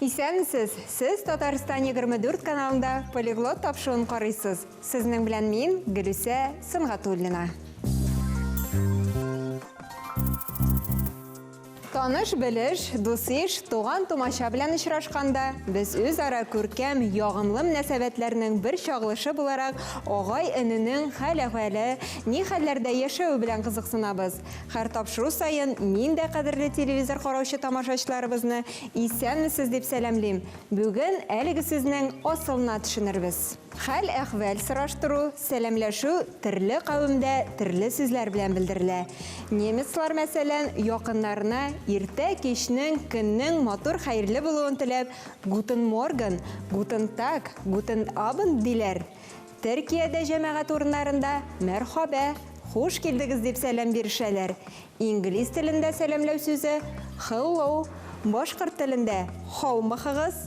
Исәнмесез! Сез Татарстан 24 каналында полиглот тапшыуын карыйсыз. Сезнең белән мин Гөлүсә Сынгатуллина. Таныш-белеш, дус-иш, туган-тумача белән очрашканда, без үзара күркәм, ягымлы мөнәсәбәтләрнең бер чагылышы буларак, агай-эненең хәл-әхвәле, ни хәлләрдә яшәве белән кызыксынабыз. Хәр тапшыру саен мин дә кадерле телевизор караучы тамашачыларыбызны исәнмесез дип сәламлим. Бүген әлеге сүзнең асылына төшенербез. Хәл-әхвәл сораштыру, сәламләшү төрле кавемдә төрле сүзләр белән белдерелә. Немецлар, мәсәлән, якыннарына иртә кичнең, көннең матур хәерле булуын теләп, Гутен морген, Гутен таг, Гутен абенд диләр. Төркиядә җәмәгать урыннарында Мәрхабә, хуш килдегез дип сәлам бирешәләр. Инглиз телендә сәламләү сүзе, Hello, башкорт телендә, Һаумыхыгыз,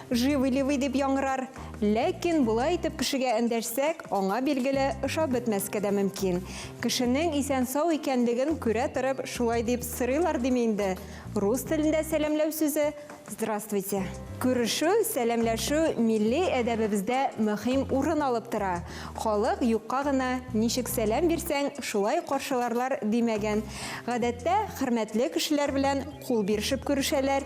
Живы-ливый дип яңгырар. Ләкин болай итеп кешегә эндәшсәк, аңа, билгеле, ошап бетмәскә дә мөмкин. Кешенең исән-сау икәнлеген күрә торып, шулай дип сорыйлар диме инде? Рус телендә сәламләү сүзе, Здравствуйте. Күрешү, сәламләшү милли әдәбебездә мөһим урын алып тора. Халык юкка гына ничек сәлам бирсәң, шулай каршыларлар димәгән. Гадәттә, хөрмәтле кешеләр белән кул бирешеп күрешәләр,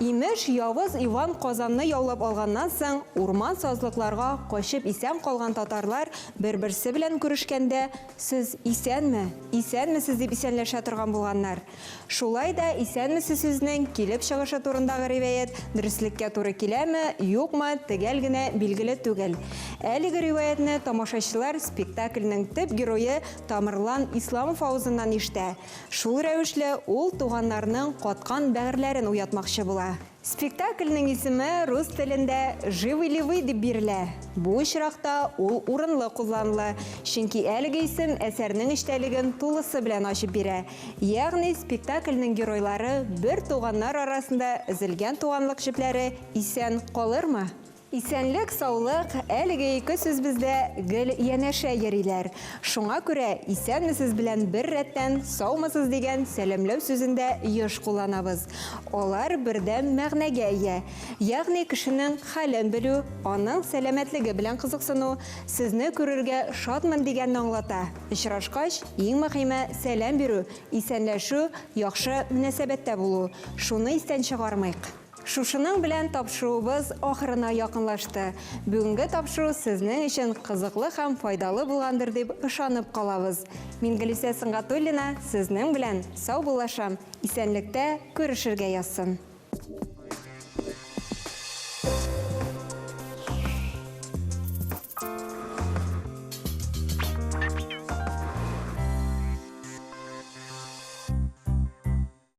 Имеш, явыз Иван Казанны яулап алганнан соң, урман-сазлыкларга качып исән калган татарлар бер-берсе белән күрешкәндә, Сез исәнме? Исәнмесез! дип исәнләшә торган булганнар. Шулай да исәнмесез сүзенең килеп чыгышы турындагы риваять дөреслеккә туры киләме, юкмы, төгәл генә билгеле түгел. Әлеге риваятьне тамашачылар спектакльнең төп герое Тамырлан Исламов авызыннан ишетә, Шул рәвешле ул туганнарның каткан бәгырьләрен уятмакчы була. Спектакльнең исеме рус телендә Живы ли вы дип бирелә. Бу очракта ул урынлы кулланылы, чөнки әлеге исем әсәрнең эчтәлеген тулысы белән ачып бирә, ягъни спектакльнең геройлары бер туганнар арасында өзелгән туганлык җепләре исән калырмы? Исәнлек саулык, әлеге ике сүз бездә гел янәшә йөриләр. Шуңа күрә исәнмесез белән бер рәттән саумысыз дигән сәламләү сүзен дә еш кулланабыз. Алар бердәм мәгънәгә ия. Ягъни кешенең хәлен белү, аның сәламәтлеге белән кызыксыну, сезне күрергә шатмын дигәнне аңлата. Очрашкач, иң мөһиме, сәлам бирү, исәнләшү, яхшы мөнәсәбәттә булу. Шуны истән чыгармыйк. Шушының белән тапшыруыбыз ахырына якынлашты. Бүгенге тапшыру сезнең өчен кызыклы һәм файдалы булгандыр дип ышанып калабыз. Мингелисә Сөнгатуллина сезнең белән саубуллашам, исәнлектә күрешергә язсын.